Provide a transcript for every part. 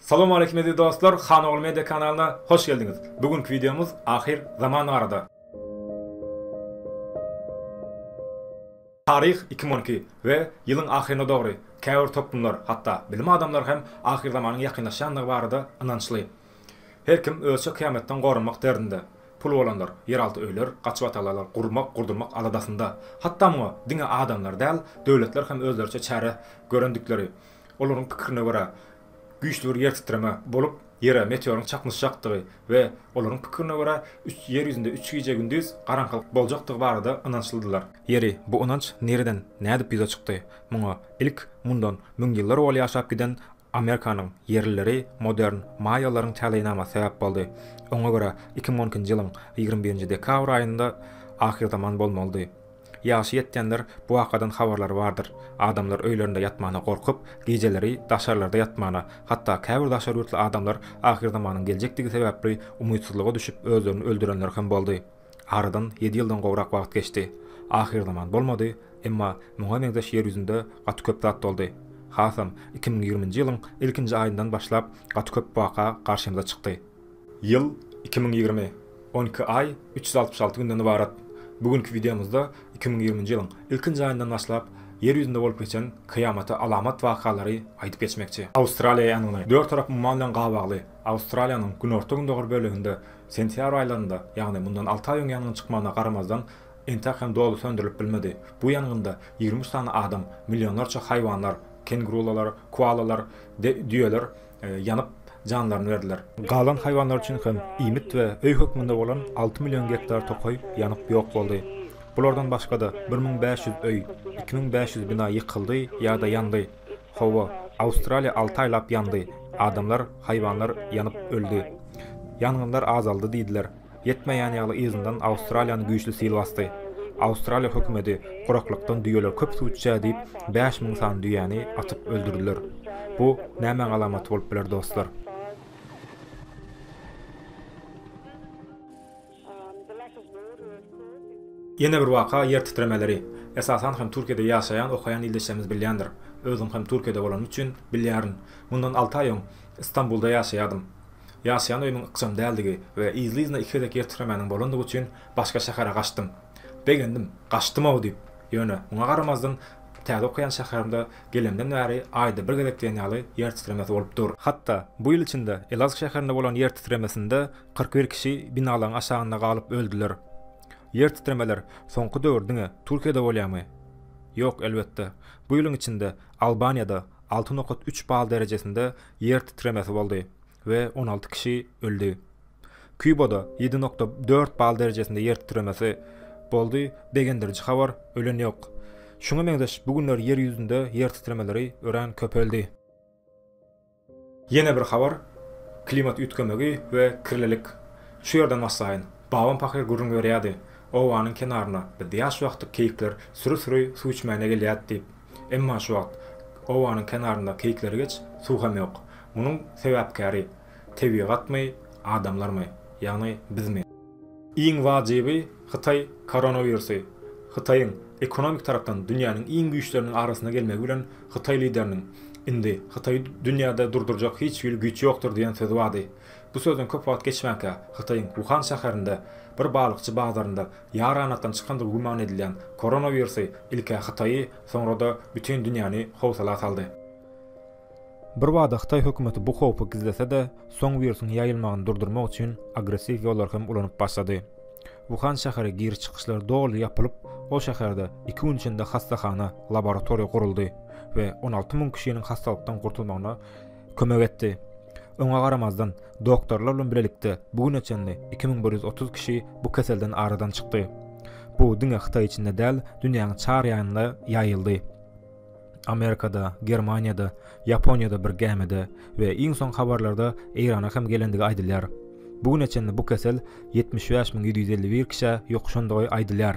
Salam aleýkum eziz dostlar Han ogly media kanalyna hoş geldiňiz bu günki wideomyz ahyr zaman barada. Taryh iki müň on iki we ýylyň ahyryna dogry käbir toplumlar hatda bilim adamlary hem ahyr zamanyň ýakynlaşýandygy barada ynançly. Her kim özçe kyýametden goranmak derdinde. Pul bolanlar ýeralty öýler, gaçybatalalar gurmak, gurdurmak aladasynda. Hatda muňa diňe adamlar däl, döwletler hem özleriçe çäre görendikleri Olaryň pikirine görä, güýçli bir ýer titreme bolup, Ýere meteoryň çaknyşjakdygy we olaryň pikirine görä, Ýer ýüzünde üç gije-gündiz garaňkylyk boljakdygy barada ynançlydylar. Ýeri, bu ynanç nireden, nädip ýüze çykdy? Muňa ilk mundan müň ýyllar owal ýaşap giden Amerikanyň ýerlileri, modern maýalaryň täleýnamasy sebäp boldy. Oňa görä, iki müň on ikinji ýylyň ýigrimi birinji dekabr aýynda ahyrzaman bolmalydy. Ýaşy ýetýänler bu wakadan habarlary bardyr. Adamlar öýlerinde ýatmana gorkup, gijeleri daşarlarda ýatmana, hatda käbir daşary ýurtly adamlar ahyrzamanyň geljekdigi sebäpli umytsyzlyga düşüp özlerini öldürenler hem boldy. Aradan ýedi ýyldan gowrak wagt geçdi. Ahyrzaman bolmady, emma muňa meňzeş ýer ýüzünde gaty köp zat boldy. Hasam iki müň ýigriminji ýylyň ilkinji aýyndan başlap gaty köp waka garşymyza çykdy. Ýyl, iki müň ýigrimi, on iki aý, üç ýüz altmyş alty günden ybarat. Bu günki wideomyzda iki müň ýigriminji ýylyň ilkinji aýyndan başlap Ýer ýüzünde bolup geçen kyýamata alamat wakalary aýdyp geçmekçi. Awstraliýa ýangyny. Dört tarap umman bilen gabagly. Awstraliýanyň günorta-gündogar böleginde sentýabr aýlarynda, ýagny mundan alty aý öň ýangyň çykmagyna garamazdan, entek hem doly söndürilip bilmedi. Bu ýangynda ýigrimi üç sany adam, millionlarça haýwanlar, kengurulalar, koalalar, düýeler ýanyp, janlaryny berdiler. Galan haýwanlar üçin hem iýmit we öý hökmünde bolan alty million gektar tokaý ýanyp ýok boldy. Bulardan başga-da, bir müň bäş ýüz öý, iki müň bäş ýüz bina ýykyldy ýa-da ýandy. Hawa, Awstraliýa alty aýlap ýandy, adamlar, haýwanlar ýanyp öldi. Ýangynlar azaldy diýdiler. Ýetmeýän ýaly yzyndan Awstraliýany güýçli sil basdy. Awstraliýa hökümeti guraklykdan düýeler köp suw içýär diýip, bäş müň sany düýäni atyp öldürdiler. Bu nämäň alamaty bolup biler dostlar? Ýene bir waka ýer titremeleri. Esasan hem Türkiýede ýaşaýan okaýan ildeşlerimiz bilýändir. Özüm hem Türkiýede bolanym üçin bilýärin. Mundan alty aý öň Istanbulda ýaşaýardym. Ýaşaýan öýümiň ykjam däldigi we yzly-yzyna iki gezek ýer titremäniň bolandygy üçin başga şähere gaçdym. Begendim, gaçdym-ow diýip, ýöne, muňa garamazdan, täze okaýan şäherimde gelenimden bäri aýda bir gezek diýen ýaly ýer titremesi bolup dur. Hatda, bu ýyl içinde Elazg şäherinde bolan ýer titremesinde kyrk bir kişi binalaryň aşagynda galyp öldüler. Ýer titremeler soňky döwür diňe Türkiýede bolýarmy? Ýok, elbetde. Bu ýylyň içinde Albaniýada, alty nokat üç bal derejesinde ýer titremesi boldy we on alty kişi öldi. Kubada ýedi nokta dört bal derejesinde ýer titremesi boldy, begendiriji habar, ölen ýok. Şuňa meňzeş bu günler ýer ýüzünde ýer titremeleri örän köpeldi. Ýene bir habar, klimat üýtgemegi we kirlilik. Şu ýerden başlaýyn. Babam pahyr gürrüň berýärdi, Obanyň kenarynda biz ýaş wagty keýikler süri-süri suw içmäne gelýärdi diýip. Emma şu wagt obanyň kenarynda keýikleri geç, suw hem ýok. Munuň sebäpkäri tebigatmy, adamlarmy, ýagny bizmi? Iň wajyby, Hytaý koronawirusy, Hytaýyň ekonomik tarapdan dünýäniň iň güýçleriniň arasynda gelmegi bilen Hytaý lideriniň Indi Hytaýy dünýäde durdurjak hiç hili güýç ýokdur diýen sözi bardy. Bu sözden köp wagt geçmänkä Hytaýyň Wuhan şäherinde bir balykçy bazarynda Ýaranatdan çykandygy güman edilýän koronawirusy ilk-ä Hytaýy, soňra-da bütin dünýäni howsala saldy. Birbada hytaý hökümeti bu howpy gizlese-de, soň wirusyň ýaýylmagyny durdurmak üçin agressiw ýollary hem ulanyp başlady. Wuhan şäheri giriş-çykyşlar doly ýapylyp, ol şäherde iki gün içinde hassahana, laboratoriýa guruldy we on alty müň kişiniň hassalykdan gurtulmagyna kömek etdi. Oňa garamazdan, doktorlar bilen bilelikde bu güne çenli iki müň bir ýüz otuz kişi bu keselden aradan çykdy. Bu diňe Hytaý içinde däl, dünýäniň çar ýanynda ýaýyldy. Amerikada, Germaniýada, Ýaponiýada bir gämide we iň soňky habarlarda Eýrana hem gelendigi aýdylýar. Bu güne çenli bu kesel ýetmiş bäş müň ýedi ýüz elli bir kişä ýokuşandygy aýdylýar.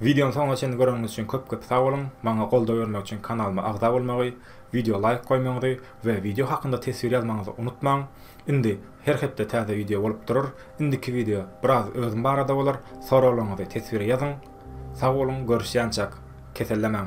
Wideony soňuna çenli göreniňiz üçin köp köp sag boluň, maňa goldaw bermek üçin kanalyma agza bolmagy, wideo laýk goýmagyňyzy we wideo hakynda teswir ýazmagyňyzy unutmaň, indi her hepde täze wideo bolup durar, indiki wideo biraz özüm barada bolar, soraglaryňyzy teswire ýazyň, sag boluň görüşýänçäk, kesellemäň.